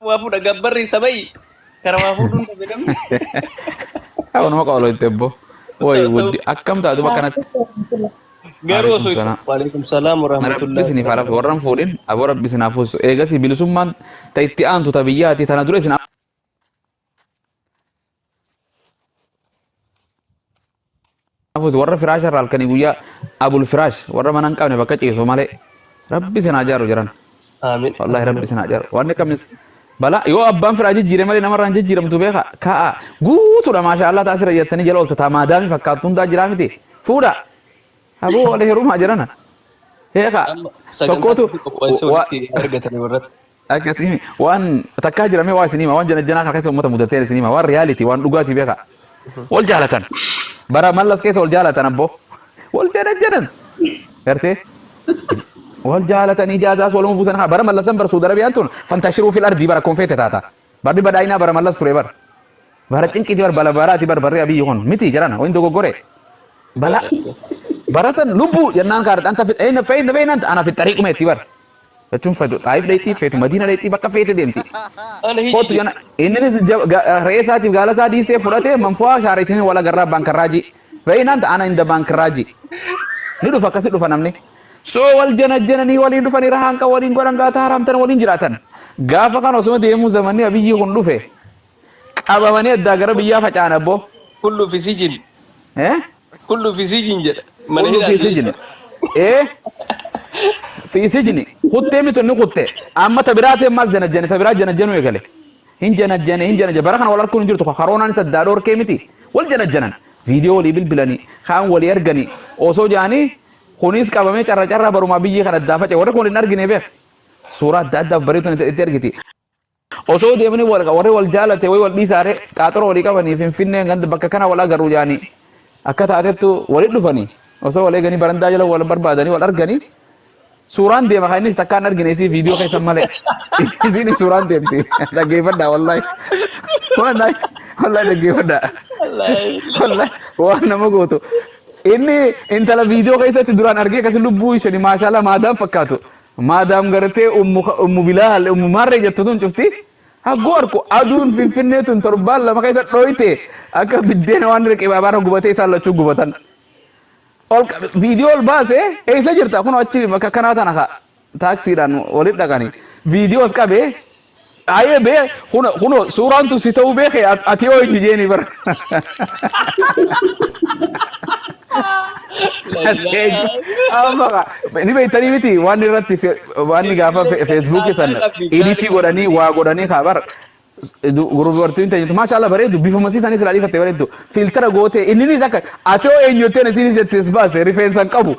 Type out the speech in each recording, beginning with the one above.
waa fuudha gabbarri sabayi kara waa fuudhuun dhabe namni. Haa nama qawaloo itti ebboo. Woy Ta'u- wuddi akkam taatu bakka natti. Garuu osoo Waalaikum salaam. waalaikum salaam Rabbi warahmatullahi isiniif haa lafu wabarakatuh. warran fuudhin aboo rabbi isin haa fuusu. Eegasii bilisummaan ta itti aantu ta biyyaati tana dura isin Hafuus warra firaasha irraa halkanii guyyaa abul firaash warra mana hin qabne bakka ciisu malee rabbi sin haa jaaru jiran. Aamin. Wallahi rabbi sin haa jaaru. Waan akka mis bala yoo abbaan firaa jijjiire malee namarraa hin jijjiiramtu beeka ka'a guutuudha maashaa Allah taasira jettanii jala oolta taamaa daami fakkaattu hundaa jiraa miti fuudha. Aboo wal heerumaa jirana. Beeka Amma sagantaa tokkootu tokko qopheessuu wa- walitti argatanii warratti. Akkasii waan takkaa jiramee waa isin hima waan janajjanaa kan keessa uummata mudateen isin hima waan reality waan dhugaatii beekaa. Wal jaalatan. Bara mallas keessa wal jaalatan abboo. Wal janajjanan. Gartee? Wal jaalatan ijaazaas waluma buusan haa bara mallasan bara Suudi Arabiyaan tun fantashiruu fil ardii bara konfeete taata. Barri badhaayinaa bara mallas ture bara. Bara cinqiiti bara bala baraati bara barri abiyyi kun miti jarana waan dogoggore. Bala. Bara san lubbuu jennaan kaadha anta fixeena feena feena ana fixariiquma itti bara. Jechuun feetu xaayif dheexxii feetu madiina dheexxii bakka feete deemti. Ana hiji Kootu jana inninis jab- ga- re'ee isaatiif gaala isaa dhiisee fudhatee manfu'aa shaareessanii wal agarraa baankarraajii. Beeyinaan ta'ana inda baankarraajii. Ni dhufa akkasi dhufa namni. So wal janajjananii waliin dhufanii rahaanqa waliin godhan gaataa haraamtan waliin jiraatan. Gaafa kan osuma deemuu zamanni abiyyii kun dhufe Qabamanii addaa gara biyyaa faca'an abboo. Kullu fi sijin. Eh? Kullu fi sijin jedha. Mana Kullu fi hidhaati. sijini. Eh? Fi sijini. Kuttee mitu inni kuttee. Amma ta biraatee ammaas janajjane ta biraa janajjanuu eegale. Hin janajjane hin janajjane bara kana wal arguun hin jirtu karoonaan isa addaa dhorkee miti. Wal janajjanan. Viidiyoo walii bilbilanii kaan walii arganii osoo jaanii kunis qabamee carra carraa barumaa biyyi kan addaa faca'e warri kun hin argine beek. Suuraa adda addaaf bareetuun itti argiti. Osoo deemanii wal- warri wal jaalate wayii wal dhiisaare qaaxoroo walii qabanii finfinnee ganda bakka kana wal agarru jaanii akka taatettu walitti dhufanii osoo wal eeganii barandaa jala wal barbaadanii wal arganii suuraan deema kan innis takkaan argine isii viidiyoo keessa malee isiin suuraan deemti dhaggeeffadhaa wallaahi wallaahi wallaahi dhaggeeffadhaa wallaahi waan nama gootu inni intala viidiyoo keessatti duraan argee akkasi lubbuu ishani maashaallah maadaan fakkaatu Maadaam gartee ummu Kha- ummu bilaal ummu maarree jettu tun cufti hagguu arku aduun finfinnee tun torbaan lama keessa dhooyte akka biddeena waan riqibaa baara gubatee isaan lachuu gubatan. Ol qa- viidiyoo ol baase eessa jirta kun achi bakka kanaa tana ka taaksiidhaan walitti dhaqani viidiyoos qabe Ayee bee kuno kuno suuraan tun si ta'uu beeke at- ati yoo inni jeeni bara. Ati eenyu? Amma ka- ni beektanii miti waan irratti fe- waan ni gaafa fe- feesbuukii san iditii godhanii waa godhanii kaa bara. Gurbartiin teenyatu maashaa Allah bareedu bifuma sii sanis ilaalii fattee bareedu. Filtera gootee inninis akka ati hoo eenyu jettee isiin jettee si baase rifeensa hin qabu.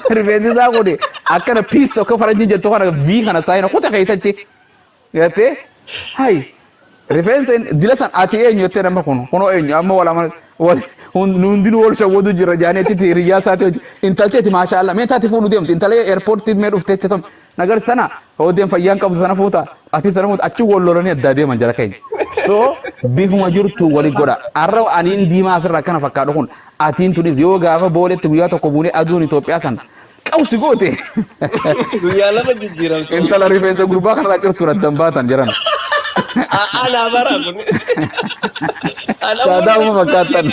Rifeensi isaa kun akkana piis akka faranjiin jettu kana V kana saayina kuta keessachi. Gattee hayi rifeensa hin- dila san ati eenyu jettee nama kun kunoo eenyu amma wal amala wal hun- nu hundinuu wal shawwadu jirra jaanii achitti hiriyyaa isaati hojii intalteeti maashaa Allah mee taati fuudhu deemti intalee eerpoortii mee dhufteetti tun Nagar sana hoodeen fayyaan qabdu sana fuuta ati sana fuuta achi wal lolanii addaa deeman jara keenya. So bifuma jirtu wali godha. Arra aniin diimaa asirra akkana fakkaadhu kun atiin tunis yoo gaafa booletti guyyaa tokko buunee aduun Itoophiyaa san qawsi goote. Guyyaa lama jijjiiramtu. Intala rifeensa gurbaa kanarraa cirtuun addan baatan jiran. Ana bara kun. Saadaama fakkaatan.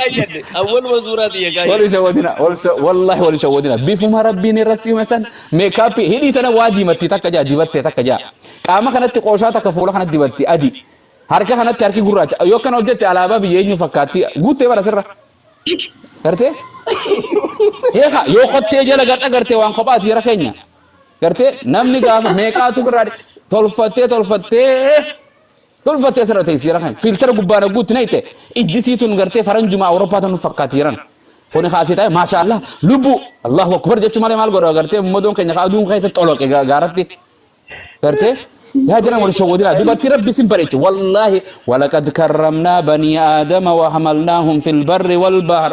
Awwaluma suuraa xiyya Wal hin shawwadina. Wal sha- Wallahi wal hin shawwadina. Bifuma rabbiin irra siime san Meekaappii, hidhii tana waa diimatti takka ja'a, dibatte takka ja'a. Qaama kanatti qooshaa takka fuula kanatti dibatti, adii. Harka kanatti harki gurraacha. Yoo akkana hojjette alaabaa biyya eenyuu fakkaatti? Guuttee bara sirra. Gartee? Heeka, yoo kottee jala gad agarte waan kophaati jara keenya. Gartee? Namni gaafa meeqaatu birraa tolfattee tolfattee Tolfatti asirra ta'e siira kan filtera gubbaan hagguutti nayte ijji sii tun gartee faranjuma Awurooppaa tan nu fakkaati jiran. Kuni kaasii ta'e maasha Allah lubbuu Allahu akbar jechuu malee maal godha gartee ummadoon keenya kaa aduun keessa xoloqe gaaratti gartee yaa jiran wal shawwadina dubartii rabbi sin bareeche wallaahi walaqad karramnaa banii aadama wa hamalnaahum fil barri wal bahar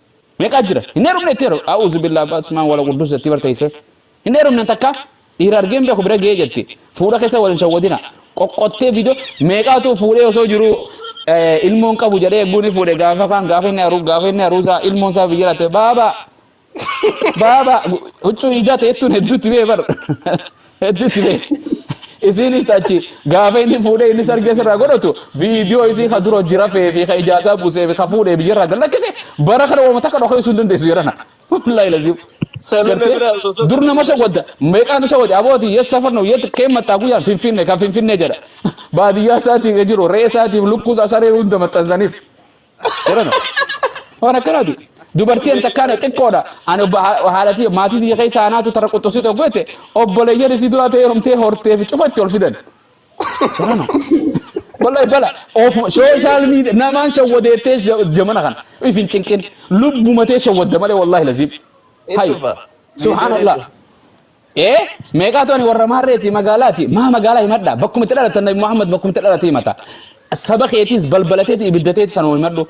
Meqaa jira hin heerumne itti heeru A'uuzubillaah Ba'asmaa'u wala Qudduus jattii bar teessee hin heerumne takka dhiira argee hin beeku bira ga'ee jatti fuudha keessa wal hin shawwadina qoqqottee vidio meeqaatu fuudhee osoo jiruu ilmoon qabu jedhee egguu ni fuudhe gaafa kaan gaafa inni haru gaafa inni haruusaa ilmoon isaa biyya latte baaba baaba huccuu iidaa ta'ettuun hedduutti bee bar Hedduu itti ta'e. Isiinis achi gaafa inni fuudhee inni sargee sirraa godhatu viidiyoo isii ka dura hojii rafee fi ka ijaasaa buusee fi ka fuudhee biyyarraa gad lakkise bara kana waamata akka dhokee sun dandeessu jedhana. Wallaahi laziim. Sanuu na biraa osoo tokko Dur nama shawwadda meeqaatu shawwade abooti yes safar nu yet kee maxxaa guyyaan finfinne kan finfinnee jedha. Baadiyyaa isaatiif jiru re'ee isaatiif lukkuu isaa saree hunda maxxansaniif. Jedhan. Waan akkanaati. Dubartiin takkaan xiqqoodha. Ani obbo haalatii maatii biyya keessa aanaatu tara quxxusii tokko jette obboleeyyan isii duraa ta'ee heerumtee hortee fi cufa itti ol fidan. Jedhan. Wallahi bala of social media namaan shawwadeettee jamana kana ifin cinqin lubbumatee shawwadda malee wallahi laziif. Hayi. Subhanallah. Ee meeqaatu ani warra maarreeti magaalaati maa magaalaa himadha bakkuma itti dhalatan nabi Muhammad bakkuma itti dhalate himata saba keetiis balbalateeti ibiddateeti sanuma himadhu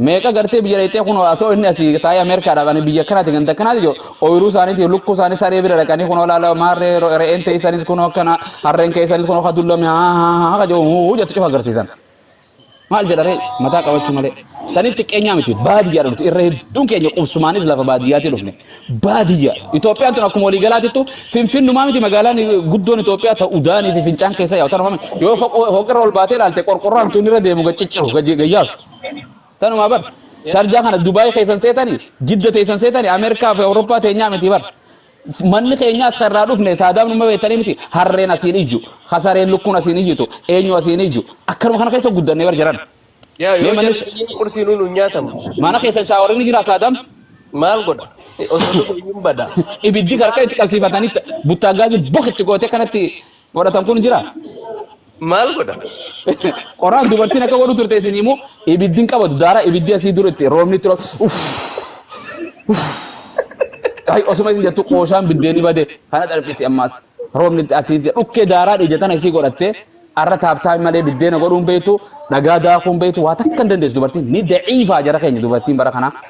meeqa gartee biyya dheexee kun asoo inni asii taa'ee Ameerikaadhaaf ani biyya kanaati ganda kanaati jiru ooyiruu isaaniitiif lukkuu isaanii saree bira dhaqanii kun olaala maarree re'een ta'e isaaniis kun akkana harreen kee isaaniis kun akka dullame haa haa haa haa jedhu huu jettu cufa agarsiisan. Maal jedha ree mataa qabachuu malee. Saniif xiqqeenyaa miti baadiyyaadha nuti irra hedduun keenya qubsumaanis lafa baadiyyaatii dhufne. Baadiyya Itoophiyaan tun akkuma walii galaatittu finfinnumaa miti magaalaan guddoon Itoophiyaa ta udaanii fi fincaan keessa yaa'u tan hofame yoo foqirra ol baatee ilaalte qorqorroo hantuun irra deemu gad cicciru gad gayyaasu. Tanumaa bar sharjaa kana Dubaayii keessan seetanii jidda teessan seetanii Ameerikaa fi Awurooppaa teenyaa miti bar. Manni keenyaas kan irraa dhufne saadaaf numa beektanii miti harreen asiin iyyu hasareen lukkuun asiin iyyitu eenyu asiin iyyu akkanuma kana keessa guddannee bar jiran. Yaa Mee yoo manni jarri biyyi qursii nuun hin nyaatamu. mana keessa shaawarri ni jira saadaam Maal godha? Osoo dhufe iyyuu hin bada. ibiddi harka itti qabsiifatanii buttaa gaazii bok itti gootee kanatti godhatan kun jira. Maal godha? Qoraan dubartiin akka godhu turte isin immoo ibiddi hin qabatu daara ibiddi asii dura itti roobni itti roobu. Uff! Uff! Ay osuma isin jettu qooshaan biddeenni bade kana darbiti ammaas roobni itti asii itti dhukkee daaraa ija tana isii godhatte arra taaptaa malee biddeena godhuun beektu dhagaa daakuun beektu waa takka hin dandeessu dubartiin ni daciifaa jara keenya dubartiin bara kanaa.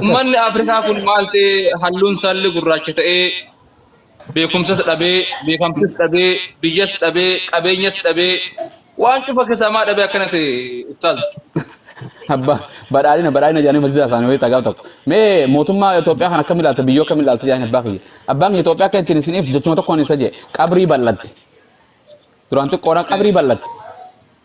Ummanni Afrikaa kun maal ta'e halluun saalli gurraacha ta'ee beekumsas dhabee, beekamtis dhabee, biyyas dhabee, qabeenyas dhabee, waan cufa keessaa maa dhabee akkana ta'e Ustaaz? Abba badhaadhina badhaadhina jedhanii masjida isaanii wayii xagaa tokko. Mee mootummaa Itoophiyaa kan akkam ilaalta biyyoo kam ilaalta jedhanii abbaa kiyya. Abbaan kiyya Itoophiyaa akka ittiin isiniif jechuma tokkoon ibsa jee qabrii bal'atte. Duraan xiqqoodhaan qabrii bal'atte.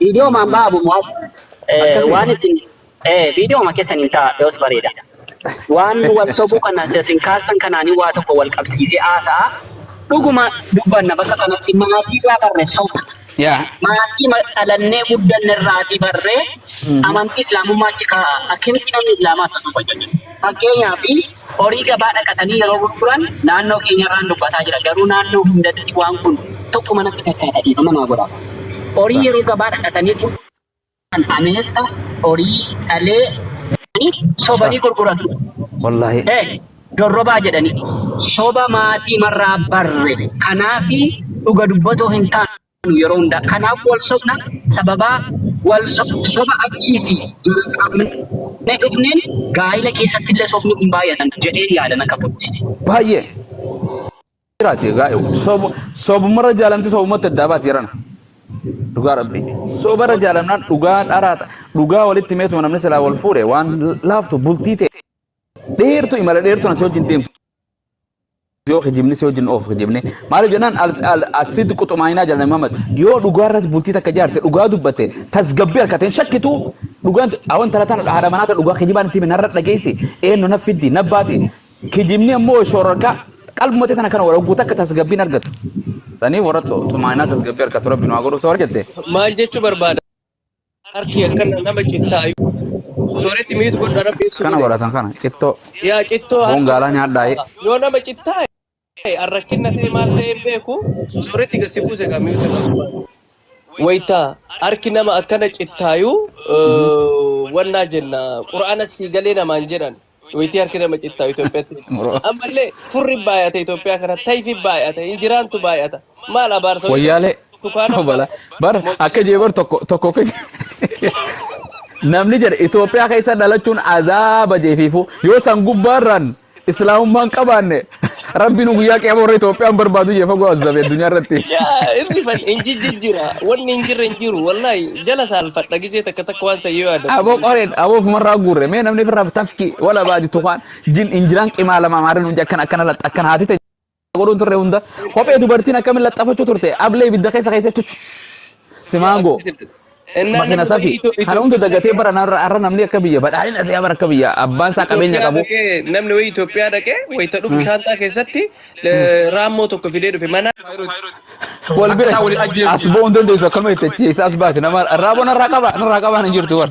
Viidiyoo maan ba'a Abu Mu'az? Eh, Akkasii. Waan isin eh, viidiyoo ma keessan hin ta'a yoos bareeda. Waan wal sobuu kana isin kaastan kanaanii waa tokko wal qabsiisee haasa'a. Dhuguma dubbanna bakka kanatti maatii irraa barre soba. Yaa. Maatii ma- dhalannee guddanne irraatii barree amantii islaamummaa achi kaa'a. Akkamitti namni islaamaa akka soba jedhu. Fakkeenyaaf Horii gabaa dhaqatanii yeroo gurguran naannoo keenyarraan dubbataa jira garuu naannoo hundatti waan kun tokkuma natti fakkaata dhiifama naa godhaa. Horii yeroo gabaa dhaqatanii gurguran ameessa, horii, dhalee, jedhanii sobanii gurguratu. Wallaahi. He dorrobaa jedhanii. Soba maatiimarraa barre kanaafi dhuga dubbatoo hin taanu. nu yeroo hundaa kanaaf wal sobna sababaa wal so- soba achiiti jalqabne dhufneen gaa'ila keessatti illee sobni kun baay'atan jedheen yaadan akka kootti. Baay'ee. Jiraate gaa'e sobu sobumarra jaalamti sobumatti addaa baati jedhana. Dhugaa rabbii. Sobara jaalamnaan dhugaa dharaa ta- dhugaa walitti meetuma namni silaa wal fuudhe waan laaftu bultii ta'e dheertu imala dheertu asii wajjin deemtu. yoo kijibni si wajjin of kijibne maaliif jennaan asitti quxumaayinaa jala Muhammad yoo dhugaa irratti bultii takka jaarte dhugaa dubbatte tasgabbii harkate hin shakkitu dhugaan awan talataan haadha manaata dhugaa kijibaan itti minarra dhageessi eenyu na fiddi na baati kijibni ammoo shoorarkaa qalbumatti tana kana walagguu takka tasgabbiin argatu sanii warra xumaayinaa tasgabbii harkatu rabbi nu haa godhu soo argatte maal jechuu barbaada harki akkana nama cittaa sooretti miitu godha rabbi ibsu kana godhe godhatan kana cittoo yaa cittoo foon harka gaalaa nyaadhaa ee. yoo nama cittaa arrakkinna ta'e maal ta'e hin beeku sooretti gasi buuse gaa miitu irraa barbaadu wayta harki nama akkana cittaayuu wannaa jenna qura'aana sii galee namaan jedhan Wayitii harki nama cittaa Itoophiyaatti. Oro- Ammallee furri baay'ata Itoophiyaa kana tayfi baay'ata injiraantu baay'ata maal abaarsa wayii Wayyaalee tukaana obala bar akka jee bar tokko tokko akka jee- namni jedhe Itoophiyaa keessa dhalachuun azaaba jeefiifu yoo san gubbaarraan islaamummaan qabaanne Rabbi nu guyyaa qiyama warra Itoophiyaan barbaadu jee fagoo azzabe addunyaa irratti. Yaa irri fan hin jijjijjira. Wanni hin jirre hin jiru. Wallaahi jala saalfadha gisee takka takka waan san yoo yaadadhu. Aboo qoreen aboo ofumarraa guurre mee namni firraa tafki wala baadi tukaan jin injiraan qimaa lama maarri nuun akkana akkana laxxa akkana haati ta'e godhuun turre hunda kophee dubartiin akkamiin laxxafachuu turte ablee ibidda keessa keessatti simaangoo. Ennaa Makina namni safi. wayii Kana hunda Itoophiyaa dagatee dhaqee bara narra har'a namni akka biyya badhaadhina ta'e bara akka biyya abbaan isaa qabeenya Itoophiyaa qabu. dhaqee namni wayii Itoophiyaa dhaqee wayita dhufu shaantaa keessatti eh, raammoo tokko fidee dhufe mana Wal bira as ba'uu hin dandeessu akkuma itti achi eessa as baate nama raaboo narraa qaba narraa qabaan hin jirtu bar.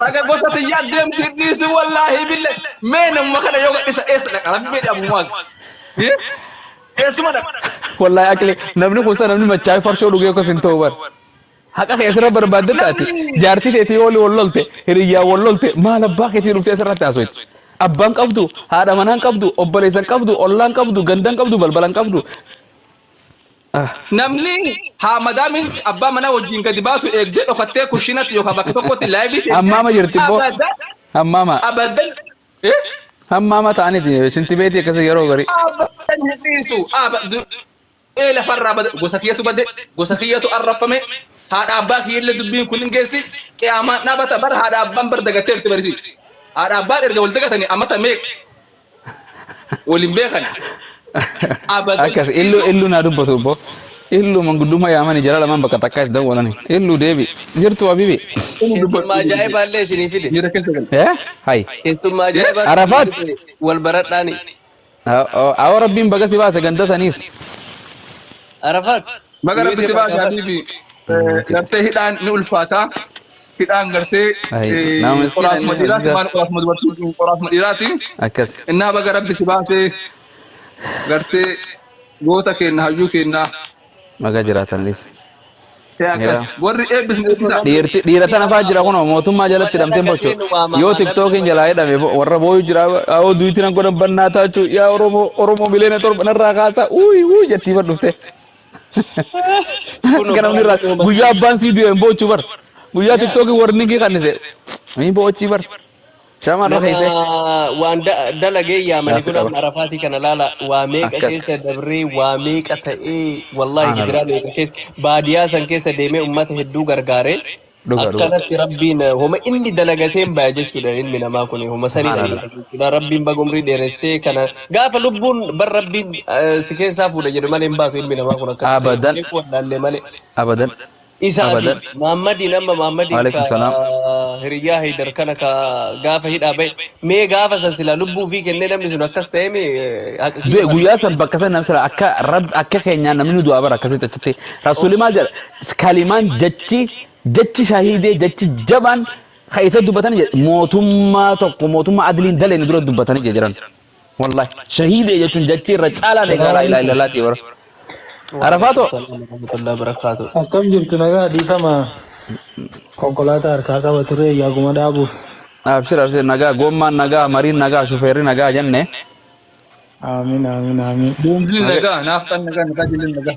Dhaga gosa tiyyaa deemti hin dhiisu wallaahi bille. Mee namuma kana yoo gadhisa eessa dhaqa rabbii dhabu maas. Eessuma dhaqa. Wallahi akli namni kun sana namni machaa'ee farshoo dhugee akkas hin ta'u bar. Haqa kee asirra barbaadde taate jaartii teetii ooli wal lolte hiriyyaa wal lolte maal abbaa keetii dhuftee asirratti haasoyte. Abbaan qabdu haadha manaan qabdu obboleessan qabdu ollaan qabdu gandan qabdu balbalan qabdu Namni haa madaamiin abbaa manaa wajjin gadi baatu eegdee dhokattee kushiinatti yookaan bakka tokkotti laayivii seensee Hammaama jirti ibboo. abadda Hammaama. abaddan eh, Hammaama ta'aniti. Shinti beetii akkasii yeroo garii. abaddan hin dhiisu abaddu ee lafarraa bada gosa kiyyatu bade gosa kiyyatu arrafame haadha abbaa kiyyallee dubbiin kun hin geessi qiyaamaan dhaabata bara haadha abbaan bar dagatteerti barisi haadha abbaan erga wal dagatanii amata meeqa Waliin beekani. Abal Akkas illu dhiisuu. illu naa dubbatu obbo. Illu manguddummaa yaamani jara lamaan bakka takkaa itti dawwalani. Illu deebi. Jirtu habibi. Inni dubbatu. Keessummaa ajaa'ibaa illee isinii fide. Miira keessa gala. Eh? Hay. Keessummaa ajaa'ibaa isinii Arafaat. fide. Wal baradhaani. Awoo rabbiin baga si baase ganda saniis. Arafaat. Baga Rabbi si baase Habiibi. Gartee hidhaan ni ulfaata. Hidhaan gartee qoraasuma dhiiraati maan qoraasuma dubartii qoraasuma dhiiraati. Innaa baga Rabbi si baase gartee goota keenna hayyuu keenna. Baga jiraatanis. Ee akkas warri eebbisne eebbisa. Dhiirti dhiira tana faa jira kunoo mootummaa jalatti hidhamteen bocho yoo tiktookiin jalaa hidhame warra booyu jira yoo duuti nan godhan bannaa taachuu yaa oromoo oromoo miliyoona torba narraa kaasaa uuyuu jettii badhufte. Kunoo Ganamni irraa baay'ee nama guyyaa abbaan sii du'e hin boochu bar. Guyyaa Yaa. tiktookii warningii kannise hin boochi bar. Shamaan nama rakeessee. waan da- dalagee yaamani Gaaffii kun qaba. amma arafaatii kana laala waa meeqa Akkas. keessa dabree waa meeqa ta'ee wallahi Subhaanallah. gidiraa meeqa keessa baadiyaa san keessa deemee ummata hedduu gargaaree Dhuga dhuga. Akkanatti rabbiin eh, homa inni dalagateen baya jechuudha ilmi namaa kun homa sanii Subhaanallah. dalaga jechuudha rabbiin baga umrii dheeressee kana gaafa lubbuun bar rabbiin eh, si keessaa fuudha jedhe malee hin baatu ilmi namaa kun akkatti ta'e Abadan. beekuu wallaallee malee Abadan. isaa fi Abadan. Maammadiin amma Maammadiin ka Waalaikum salaam. hiriyyaa Haydar kana ka gaafa hidhaa ba'e mee gaafa san silaa lubbuu fi kennee namni sun akkas ta'e mee eh, haqa Du'e kiyya guyyaa san bakka san namni sila akka rab akka keenyaa namni nu du'aa bara akkasitti achitti rasuulli maal jedha S Kalimaan, jechi, jechi shahiidee, jechi jabaan ka eessatti dubbatanii jedhe mootummaa tokko mootummaa adliin daleeyne dura dubbatanii jedhe jiran. Wallahi shahiidee jechuun jechi irra caalaan eegaa laa ilaaha Assalamualaikum. illallaatii bara. Waalaikum Arafaatoo salam warahmatullahi wabarakatuh. Akkam jirtu nagaa dhiifama konkolaataa harkaa qaba ture yaaguma dhaabuuf. abshir abshir nagaa gommaan nagaa mariin nagaa shufeerri nagaa jenne Aamin aamin aamin. Beenziin nagaa nagaa naafxaan nagaa nagaa jilleen nagaa.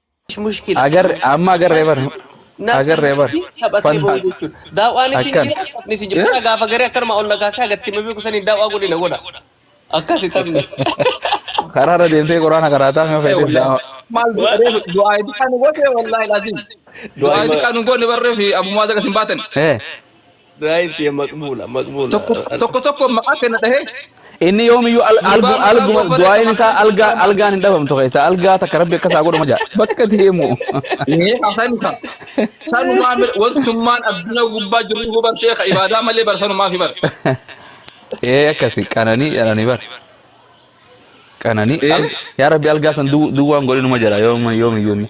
ايش مشكله Agar amma agarree bar. naas Agarree bar. kanatti taphatee Fan- ba'u jechuudha daawaan isin Akkan. jira taphni isin jira Kana gaafa garee akkanuma ol nagaasee agatti himee beeku saniin daawaa godhina godha akkasi taphni Karaa irra deemtee quraana qaraataa mee fayyadee bilaama. Maal du'a reefu du'aa itti kan goone wallaahi laasiin. Du'aa itti kan goone barree fi ammummaa isa kan isin baatan. Eh. Daa'im tiyya maqbuula maqbuula. Tokko tokko tokko maqaa kenna dhahee Inni yoomiyyuu al- gurbaa algu- maqaa alguma goofaree du'aayin qabatee isaa algaa gurbaa algaan hin dhabamtu keessa algaa takka rabbi akkasaa godhuma jaa bakka deemu. Mee haasani ka. Sanumaa mil wantummaan addunyaa gubbaa jirru hubar sheeka ibaadaa malee bar sanumaa fi bar. Ee akkasi qananii jedhanii bar qananii Ee? al- yaa rabbi algaa san du- duwwaan godhinuma jira yoom- yoomiyyuu inni.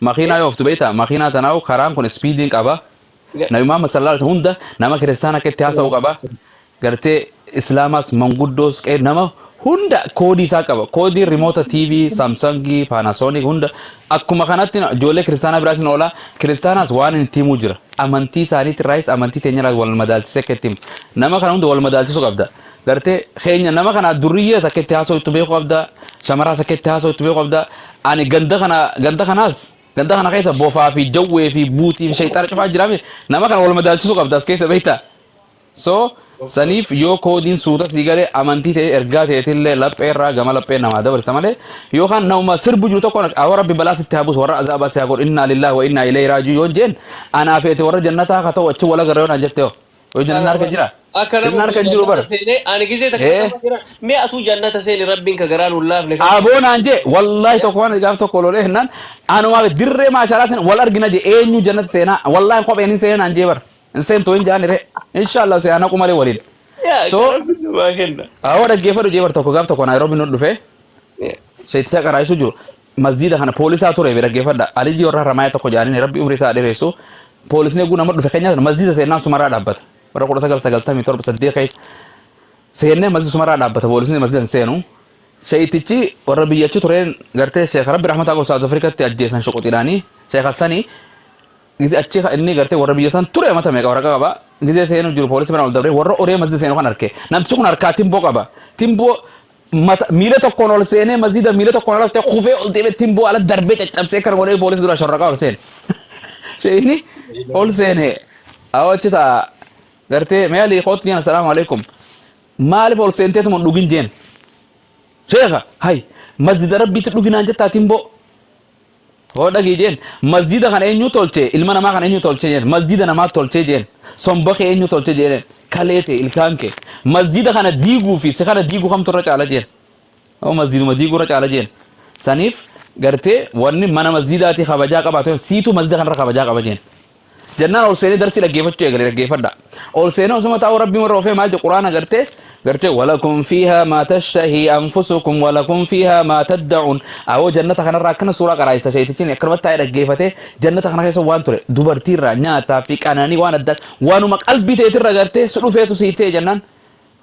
makiinaa yoo oftu beektaa makiinaa tanaahu karaan kun ispiidiin qaba nabi muhammad sallallahu alaihi hunda nama kiristaan akka itti haasa'u qaba gartee islaamaas manguddoos qe'ee nama hunda koodii isaa qaba koodii rimoota tv saamsangii paanaasoonik hunda akkuma kanatti ijoollee kiristaanaa biraas hin oola kiristaanaas waan hin ittiin himuu jira amantii isaaniitti irraayis amantii teenya irraas wal madaalchisee akka ittiin nama kana hunda wal madaalchisuu qabda Gartee keenya nama kana durriyyee isa keetti haasoo itti beekuu qabda. Shamaraa isa keetti haasoo itti beekuu qabda. Ani ganda kana ganda kanaas ganda kana keessa bofaa fi jawwee fi buutii fi shayxaana cufaa jiraame nama kana wal madaalchisuu qabda as keessa beektaa. So Of course. saniif yoo koodiin suuta sii galee amantii ta'e ergaa ta'etillee laphee irraa gama laphee namaa dabarsa malee yookaan nama sirbu jiru tokko awwa rabbi balaa sitti haa buusu warra azaabaa si haa godhu innaa lillaah wa innaa ilayhi raajuu yoon jeen anaa fi ati warra jannataa haa ta'u achi wal agarra yoon jette hoo. Yoo jannanni harka jira? Akka nama Jannaan harka hin jiru bara. jannata seenee ani gizee takka Ee. nama jira mee atuu jannata seeni rabbiin ka garaa nuun laafne kan Aboo naan jee wallaahi tokko waan gaaf tokko lolee hennaan anuma dirree maashaalaa sana wal argina jee eenyu jannata seenaa wallaahi kopheen hin seenaa naan jee bara hin seentu hin jaani ree inshaallah seenaa naqu malee waliin yaa so gara biyyumaa kenna. awwa dhaggeeffadhu jee bara tokko gaaf tokko naayiroobi nu dhufee Yaa. seettisa qaraayisuu jiru Masjiida kana poolisaa ture mee dhaggeeffadha. Aliyyii warra Haramaayaa tokko jedhaniin rabbi umrii isaa dheeressu. Poolisni eeguu nama dhufe keenyaa sana masjiida seennaan sumaraa dhaabbata. Bara 1997 saddeet keessa seennee masjiida sumaraa dhaabbata poolisni masjiida hin seenu. Sheeyitichi warra biyya achi tureen gartee sheeka rabbi rahmataa qabu Saawuz Afrikatti ajjeesan shuquxiidhaanii sheeka sanii Gize achi ka- inni gartee warra biyya san ture mata meeqa waraqaa qaba. Gizee seenuu jiru poolisii mana ol dabree warra oree masjida seenu kan arke. Namtichi kun harkaa timboo qaba. Timboo Mata, miila tokkoon ol seenee masjiida miila tokkoon ala ta'e kufee ol deemee ittiin bu'aa ala darbee caccabsee kana godhee poolisii dura shorraqaa ol seene. Sheeyini ol seene awwa achi ta'a gartee mee alii kootti jeen assalaamu alaikum maaliif ol seenteetuma hin dhugin jeen sheeka hay masjiida rabbiitti dhuginaan jettaa timboo Hoo dhagii jeen masjiida kana enyuu tolchee ilma namaa kana enyuu tolchee jeen masjiida namaa tolchee jeen somba kee enyuu tolchee jeen kalee tee ilkaan kee masjiida kana diiguu fi si kana diigu kamtu irra caala jeen hoo masjiiduma diiguu irra caala jeen saniif gartee wanni mana masjiidaatii kabajaa qabaatu siitu masjiida kanarra kabajaa qaba jeen jennaan ol seenee darsii dhaggeeffachuu eegale dhaggeeffadha. Ol seenee osuma taa'uu rabbiin warra ofee maal jedhu quraana gartee gartee walakum fiihaa maa tashtahi anfusukum walakum fiihaa maa tadda'uun awoo jannata kanarraa akkana suuraa qaraayisa sheetichin akkanumatti taa'ee dhaggeeffatee jannata kana keessa waan ture dubartiirraa nyaataa fi qananii waan adda waanuma qalbii teetirra gartee si dhufeetu si ta'e jennaan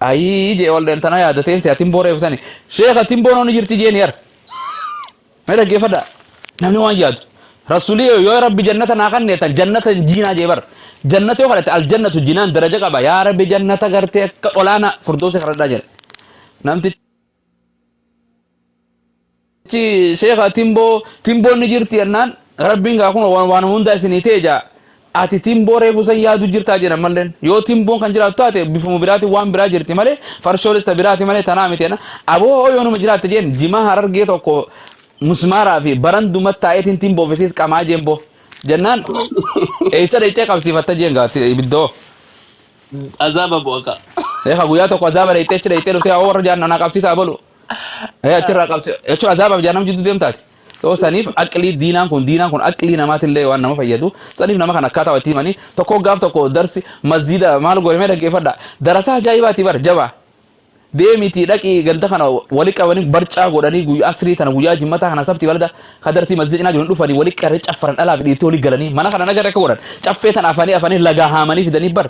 ayii jee waldeen tana yaadateen si atin booreefsani sheeka atin boonoo ni jirti jeen yar Mee dhaggeeffadha. Namni waan yaadu. Rasuulii yoo yoo rabbi jannata naa kanneetan jannata hin jiinaa jee bar. Jannata yoo kadhate aljannatu jinaan daraja qaba. Yaa rabbi jannata gartee akka olaana furdoosi kadhadhaa jedha. Namtichi sheeka timboo timboon ni jirti jennaan rabbiin gaa kun waan waan hunda isinii ta'e jaa. Ati timboo reefu san yaadu jirtaa jedhan malleen yoo timboon kan jiraatu taate bifuma biraatiin waan biraa jirti malee farshoonis ta biraati malee tanaa miti jedhan aboo hoo yoonuma jiraatte jeen jimaa harargee tokko musmaaraa fi baranduma taa'eetiin timboo fi siis qamaa jeen boo jennaan eessa dhayxee qabsiifatta jeen gaatti ibiddoo Azaaba bu'aka. Eegaa guyyaa tokko azaaba dhayxee achi dhayxee dhuftee hoo warra jaan anaa qabsiisaa bolu Ee achirraa qabte jechuun azaabaaf jaanam jidduu deemtaati. Soo saniif aqlii diinaan kun diinaan kun aqlii namaatillee waan nama fayyadu saniif nama kan akkaataa itti himanii tokko gaaf tokko darsi masjiida maal godhamee dhaggeeffadha darasaa ajaa'ibaati bar jabaa deemitii dhaqii ganda kana wali qabanii barcaa godhanii guyyaa asrii tana guyyaa jimmataa kana sabti balada ka darsii masjid cinaa jiru hin dhufanii wali qarree caffaran dhalaa fi dhiitii wali galanii mana kana nagarra akka godhan caffee tana afanii afanii lagaa haamanii fidanii bar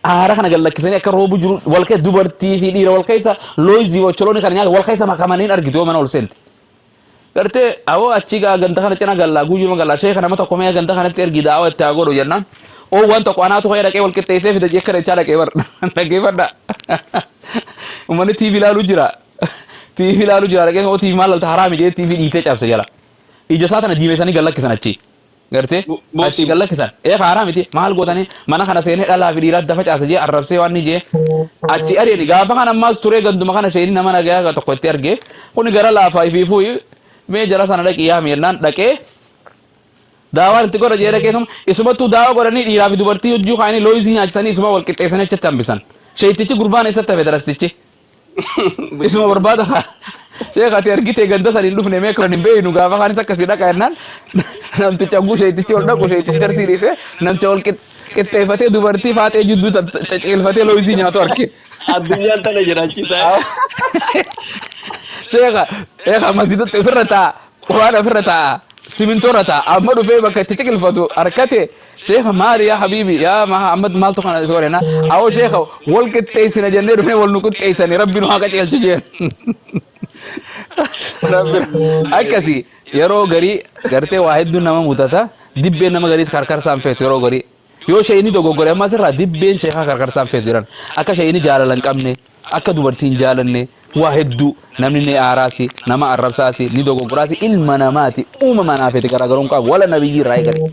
Aara kana gad lakkisanii akka roobu jiru wal keessa dubartii fi dhiira wal keessa looyizii fi ocholoonii kana nyaata wal keessa makamanii hin argitu yoo mana ol seente. Gartee awoo achii gaa ganda kana cina gallaa guyyuma gallaa sheeka nama tokko mee ganda kanatti ergi daawa itti haa godhu jennaan. Oo waan tokko anaatu ka'ee dhaqee wal qixxeessee fida jee kadhachaa dhaqee bar dhaggeeffadha. Uummanni TV ilaaluu jira. TV ilaaluu jira dhaqee oo TV maal lalta haraami jee TV dhiitee cabse jala. Ija isaa tana diimessanii gad lakkisan achii. Gartee Bo- achi boosii. gad lakkisan. Ee haaraa miti maal gootanii mana kana seenee dhalaa fi dhiiraa adda facaasa jee arrabsee waan ni jee achi ari'ani gaafa kan ammaas turee ganduma kana sheenii nama nagayaa tokko itti argee kuni gara laafaa fi fuuyi mee jara sana dhaqi yaami jennaan dhaqee daawaan itti godha jee dhaqee isuma isumattuu daawaa godhanii dhiiraa fi dubartii hojjuu kaanii looyisii nyaachisanii isuma wal qixxeessanii achitti hambisan. Sheeyitichi gurbaan eessatti hafe darastichi Isuma barbaada kaa. Sheekh ati argitee ganda san hin dhufne mee kan hin beeknu gaafa kaanis akkasii dhaqa jennaan namticha oguu sheetichi ol dhaqu sheetichi jarsii dhiise namticha ol qix- qixxeeffatee dubartii faaxee jidduu ta- ta- ciciilfatee looyisii nyaatu arge. Addunyaan tana jiraachisaa. Sheekha sheekha masjidatti ofirra taa'a quraan ofirra taa'a simintoorra taa'a amma dhufee bakka itti ciqilfatu harkate Sheekh maali yaa habiibi yaa Mahammad maaltu kana isa godhena awoo sheekha wal qixxeessina jennee dhufnee wal nu qixxeessani rabbi nu haa qajeelchu jeen rabbi akkasi yeroo garii gartee waa hedduun nama mudata dibbeen nama gariis karkarsaan feetu yeroo garii yoo sheeyni dogoggore ammas irraa dibbeen sheekaa karkarsaan feetu jedhan akka sheeyni jaalala hin qabne Akka dubartii hin jaalanne waa hedduu namni ni aaraasi, nama arrabsaasi, ni dogoggoraasi, ilma namaati uumama anaa feete garaagaroo hin qabu. Wala nabiyyii irraa eegale.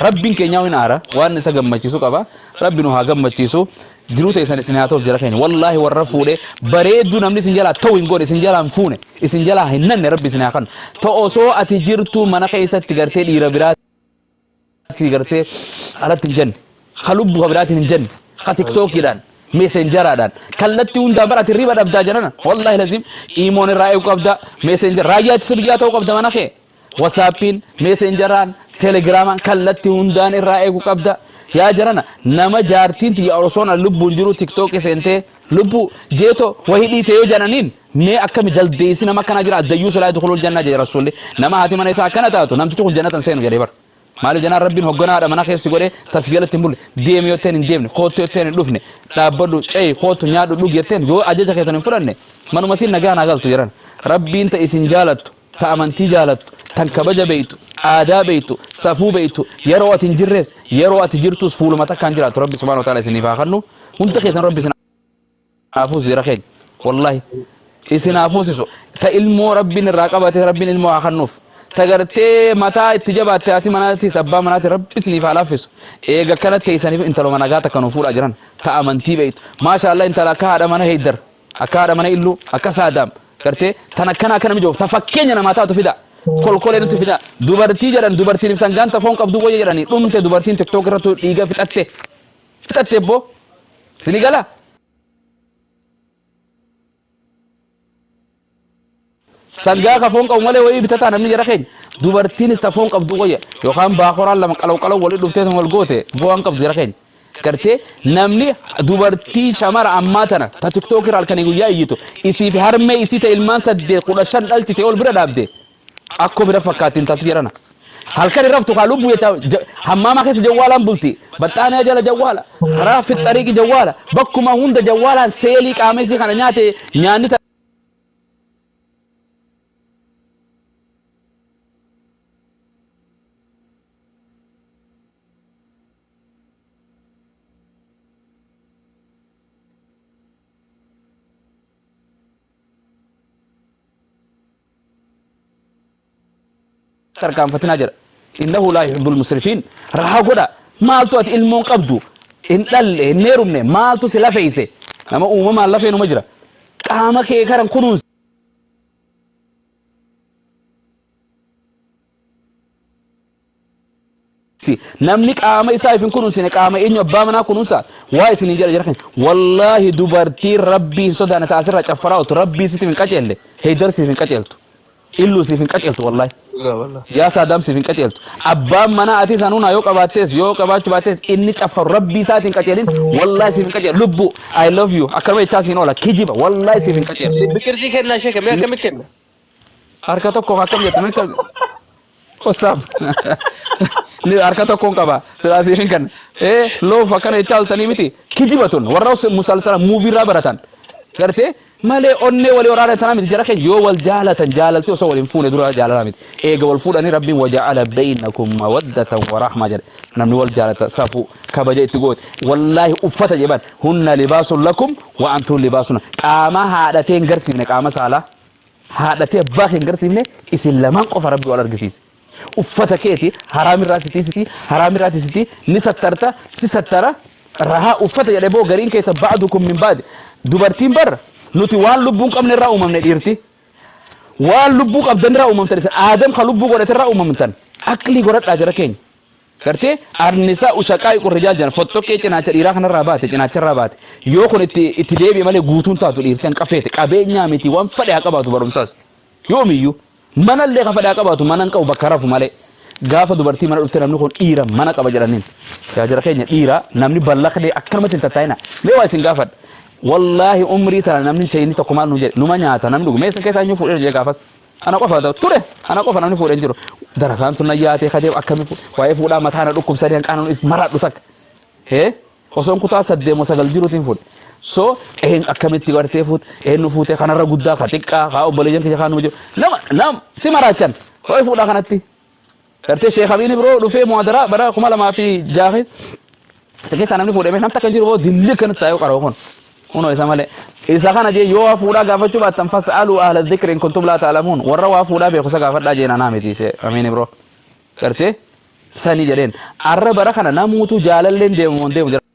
Rabbiin keenyaa'u hin aara, waan isa gammachiisu qaba. Rabbi nu haa gammachiisu. Jiruu teessan isin haa ta'uuf jara keenya. Wallaahi warra fuudhe bareedduu namni isin jalaa ta'u hin goone, isin jalaa hin fuune, isin jalaa hin nanne rabbi isin haa kennu. Ta osoo ati jirtuu mana keessatti gartee dhiira biraa Ati gartee alatti hin jenne, ka lubbu ka biraatiin hin jenne, ka tiktookiidhaan, meeseenjaraadhaan, kallatti hundaan bara ati riba dhabdaa jenana. Wallaahi laziim iimoon irraa eegu qabda, meeseenjara raayyaa ittisa biyyaa ta'uu qabda mana kee. Wasaappiin, meeseenjaraan, telegiraamaan kallatti hundaan irraa eegu qabda. Yaa jarana nama jaartiin tiyya osoon an lubbuun jiru tiktookii seentee lubbuu jeetoo wahii dhiite yoo jananiin Mee akkami jaldeessi nama akkana jira dayyuusu laa yadkhulul janna jedhe rasuulli nama haati mana isaa akkana taatu namtichi kun jannata hin seenu jedhee bar maaliif jennaan rabbiin hogganaadha mana keessi godhee tas jalatti hin bulle deemi yotteen hin deemne koottu yotteen hin dhufne dhaabbadhu ce'i koottu nyaadhu dhugi yotteen yoo ajaja keessan hin fudhanne manuma siin nagaa naa galtu jedhan rabbiin ta isin jaalattu ta amantii jaalattu tan kabaja beeytu aadaa beeytu safuu beeytu yeroo ati hin jirres yeroo ati jirtus fuuluma takkaan jiraatu rabbi subhaanahu wa ta'aala isiniif haa kennu hunda keessan rabbi isin haa fuusisu jara keenya wallahi isin haa fuusisu ta ilmoo rabbiin irraa qabate rabbiin ilmoo haa kannuuf ta gartee mataa itti jabaatte haati manaatiis abbaa manaati rabbi isiniif haa laaffisu eega akkana teeysaniif intaluma nagaa takka nu fuudhaa jiran ta amantii beeytu maasha allah intala akka haadha mana heeydar akka haadha mana illuu akka saadaam gartee tan akkana akkana mijoof ta fakkeenya namaa taatu fidaa kolkolee nutti fidaa dubartii jedhan dubartiin ibsan gaanta foon qabduu wayya jedhanii dhumte dubartiin tiktook irrattu dhiiga fixatte fixatte ebbo sini gala sangaa ka foon qabu malee wayii bitataa namni jara keenya dubartiinis ta foon qabdu wayya yookaan baakoraan lama qalaw qalaw wali dhuftee tan wal goote bu'aan qabdu jara keenya gartee namni dubartii shamara ammaa tana ta tiktookii irraa halkanii guyyaa iyyitu isii fi harmee isii ta ilmaan saddeet kudha shan dhalchite ol bira dhaabde Akkoo bira fakkaatti intalti jarana. Halkan hin raftu kaa lubbuu jetta ja- hammaamaa keessa jawwaalaan bulti. Baxxaanee jala jawwaala. Karaa fixxariiqi jawwaala. Bakkuma hunda jawwaalaan seelii qaama isii kana nyaate nyaanni ta- tarkaanfatinaa jedha innahu laa yuhibbul musrifiin rahaa godha maaltu ati ilmoon qabdu hin dhalle hin heerumne maaltu si lafeeyse nama uumamaan lafeenuma jira qaama kee karan kunuunsi namni qaama isaa ifin kunuunsine qaama eenyu abbaa manaa kunuunsa waa isin hin jedha jira keenya wallaahi dubartii rabbii hin sodaane taasirraa caffaraa otu rabbii siif hin qaceelle heydar siif hin qaceeltu illuu siif hin qaceeltu wallaahi Dhugaa wallah. yaa saadaam siif hin qaceeltu abbaan manaa ati isaan hunaa yoo qabaattees yoo qabaachuu baattees inni caffaru rabbii isaati hin qaceelin wallaahi siif hin qaceeltu lubbuu I love you akkanuma jechaa siin oola kijiba wallaahi siif hin qaceeltu Biqilsii kennaa ishee kennaa akkamitti kenna? Harka tokkoon akkam jette mekka qosaaf ni harka tokkoon qaba silaasiif hin kenna ee loof akkana jechaa oltanii miti kijiba tun warra musalsala muuvii irraa baratan gartee malee onnee walii waraana tanaa miti jara keenya yoo wal jaalatan jaalalti osoo waliin fuune dura jaalala miti eega wal fuudhanii rabbiin waja'ala beeynakum mawaddatan warahmaa jedhe namni wal jaalata safuu kabaja itti goote wallaahi uffata jedhan hunna libaasun lakum wa antuun libaasun qaama haadhateen garsiifne qaama saalaa haadhatii abbaa kee hin garsiifne isin lamaan qofa rabbi wal argisiise uffata keeti haraamirraa sitii sitii haraamirraati sitii ni sattarta si sattara rahaa uffata jedhe boo gariin keessa baadu kun min baadi dubartiin barra nuti waan lubbuun qabne irraa uumamne dhiirti waan lubbuu qabdan irraa uumamtan isin aadam kan lubbuu godhate irraa uumamtan aqlii godhadhaa jara keenya Gartee Annisaa'u shaqaa'iqu rijaal jedhan fottoqqee cinaacha dhiiraa kanarraa baate cinaacharraa baate yoo kun itti itti deebi'e malee guutuu hin taatu dhiirti hanqaf feete qabeenyaa miti waan fadhe haa qabaatu barumsaas yoomiyyuu manallee ka fadhe haa qabaatu mana hin qabu bakka rafu malee gaafa dubartii mana dhufte namni kun dhiira mana qaba jedhaniin yaa jira keenya dhiira namni ballaqnee akkanumatti hin tattaa'ina mee waa isin gaafadha wallaahi umrii tana namni shayinni tokko maal nu jedhe numa nyaata namni dhugu mee isin keessaa eenyu fuudhee jedhe gaafas Ana qofa ture ana qofa namni fuudhe hin jiru. Darasaan tun na yaatee ka deemu akkami waa'ee fuudhaa mataa na dhukkubsanii hanqaanan is maraadhu takka. Hee osoon kutaa saddeet moo sagal jiruutiin fuudhe. So een akkamitti gartee fuut eenyu fuutee kanarra guddaa ka xiqqaa kaa obboleeyyan kiyya kaanuma jiru. Nama nam si maraachan waa'ee fuudhaa kanatti. Gartee Sheekh Abiin biroo dhufee muhadaraa bara 2006 keessa keessaa namni fuudhame nam takka hin jiru boo dilli akkanatti taa'ee qaroo kun. Kunoo isa malee. Isa kana jee yoo waa fuudhaa gaafachuu baattan fas'aluu ahla dhikri in kuntum laa ta'lamuun warra waa fuudhaa beeku isa gaafadhaa jeen anaa miti Sheekh Abiin biroo. Gartee sanii jedheen arra bara kana namuutu jaalalleen deemu hin deemu jira.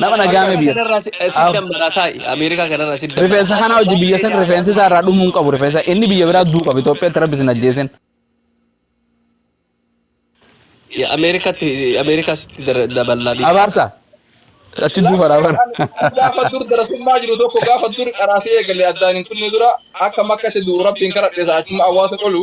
Nama nagaa Ameerika miti. kanarraa si- eh, si dammaraa taa'i. Ameerika kanarraa si dammaraa. Rifeensa kanaa hojii biyya san rifeensi isaa irraa dhumuu hin qabu rifeensa inni biyya biraa duu qabu Itoophiyaatti rabbi sin ajjeesin. Ya, Ameerikatti Ameerikaa sitti dara- daballaa dhiisa. Abaarsa. Achi duufa raafan. Gaafa dur darasummaa jiru tokko gaafa dur qaraatee eegalee addaan hin kunne dura akka makkatti du'u rabbiin karadheessa achuma awwaata qolu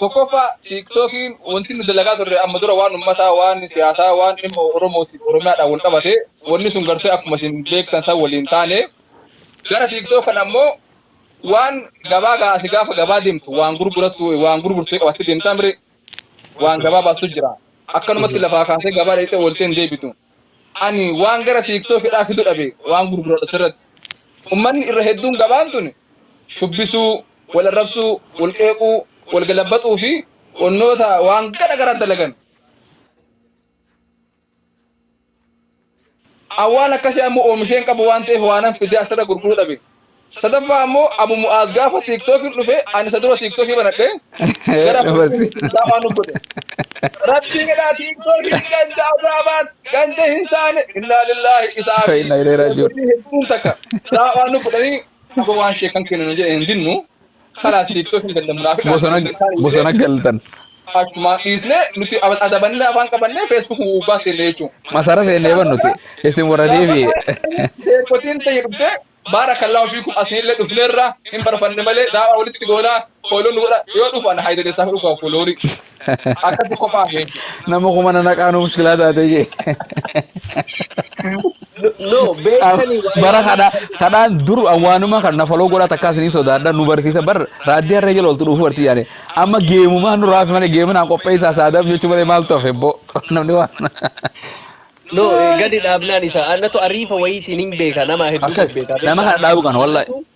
Tokkoffaa tiiktookiin wanti nu dalagaa turre amma dura waan ummataa, waan siyaasaa, waan dhimma Oromootiif Oromiyaadhaan wal qabate wanni sun gartee akkuma isin beektan san waliin taane gara tiiktook kan ammoo waan gabaa gaati gaafa gabaa deemtu waan gurgurattu waan gurgurtee qabattee deemtaa mire waan gabaa baastu jira. Akkanumatti lafaa kaasee gabaa dheexee ooltee hin deebitu. Ani waan gara TikTok hidhaa fidu dhabe waan gurguradhu asirratti. Ummanni irra hedduun gabaan tuni shubbisuu, wal arrabsuu, wal qeequu, wal galabbaxuu fi wannoota waan gara garaa dalagan. An waan akkasii ammoo oomishee hin qabu waan ta'eef waanan fidee asirra gurguru dhabe. Sadaffaa ammoo Abu Mu'aaz gaafa TikTok dhufe ani isa dura TikTok banadhe gara Falastiin Islaamaa nu godhe. Rabbiin jedhaa TikTokiin ganda azaabaat ganda hin taane innaa lillaahi isaa fi Inna ilaihi raaji'uun. hedduun takka daawaa nu godhanii abo waan sheekan keenya nu jedhe hin dinnu. Kanaas tiiktookii ganda munaafiqaa Bosona Isaan bosona dhiisee galtan. achumaan dhiisnee nuti ab- adabannee afaan qabannee feesbuuk gubbaa teenne jechuun. Masara seennee ban nuti. Isin warra deebi'e. Beekotiin ta'e dhuftee baarakallaa ofiikum asiinillee dhufneerra hin barfanne malee daawaa walitti goonaa fooloo nu godha yoo dhufan haayidadessaaf dhufa fooloorii. Akkatti kophaa jechuudha. Nama kuma na naqaa nu mushkilaa taatee jee. No, no beektanii waa Bara yaaduu kana qabdan. kanaan dur awwaanuma kan na faloo godhaa takkaa isiniif sodaadha nu barsiisa bar raaddii harree jala oltu dhuufuu bartii yaane amma geemumaa nu raafi malee geeminaan qopheessaa saadaaf jechuu malee maaltu hafe boo namni waan No, eh, gadi dhaabnaan isaa. Annatu ariifa wayiitiin hin beeka. Nama hedduu akkas beekaa nama beektaa. kana dhaabuu kana wallahi. Kanaafuu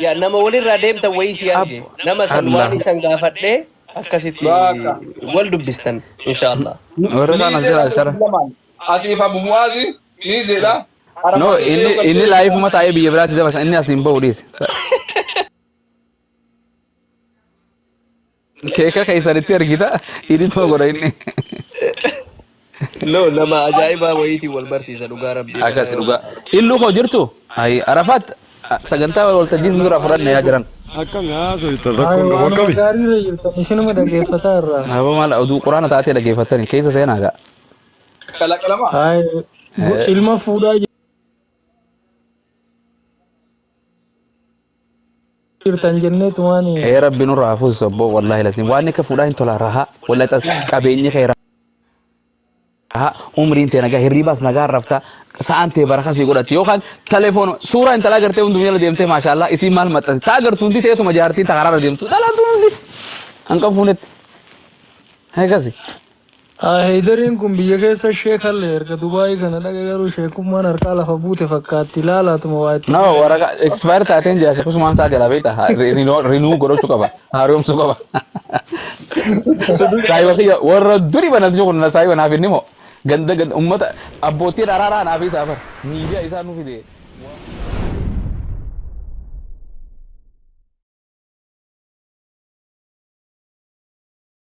Ya nama walirraa deemtan wayii sii arge Abbo. nama san Allah. waan isan gaafadhe akkasitti Baaka. wal dubbistan inshaallah. Warri kaan Miizee abshiraa dha shara. Islamaan. Atiif Abu Mu'aazi miizee dha. No, Arafaa keessa inni yoo inni galtee laayifuma taa'ee biyya biraatti dabarsa. Inni asiin ba'u dhiise. Keeka keessanitti ergita idituma godha inni. No, nama ajaa'ibaa wayiitiin wal barsiisa dhugaa rabbii. Akkasi dhugaa. Illuu koo jirtu? Ayi Arafaat sagantaa waltajjii isin duraa fudhanne yaa jiran. Akkami haasofta rakkoon qabu Waanuma akkami? gaarii irra jirtan isinuma dhaggeeffataa irraa. Haba maal oduu quraana taatee dhaggeeffattani keessa seenaa gaa. Qalaqalamaa. Haay ilma fuudhaa jirtan jennee tumaani. Ee rabbi nurra haa fuusisu abboo wallaahi laziim waan akka fuudhaa hin tola rahaa wallaahi tas qabeenyi kee rahaa umriin tee nagaa hirriibaas nagaa rafta sa'aan tee baraka sii godhatti yookaan telefoon suuraa intalaa gartee hundum jala deemtee maashaallaa isiin maal maxxansi taa gartu hundi teetuma jaartii ta karaarra deemtu dhalaatuun hundi hanqan fuunetti akkasi. Haa Heydariin kun biyya keessa sheek halle erga Dubai kana dhaqe garuu sheekummaan harkaa lafa buute fakkaatti laalaatuma waa itti No, waraqaa godhee. expire taateen jira sheekusumaan isaa jala beekta. Ha- re- reno- Renew godhachuu qaba. Haaromsuu qaba. Suduu Saayiba kiyya warra duri banatu jiru kun saayiba naaf inni moo ganda ganda ummata abbootiin araaraa naaf isaa bar miidiyaa isaa nu fide.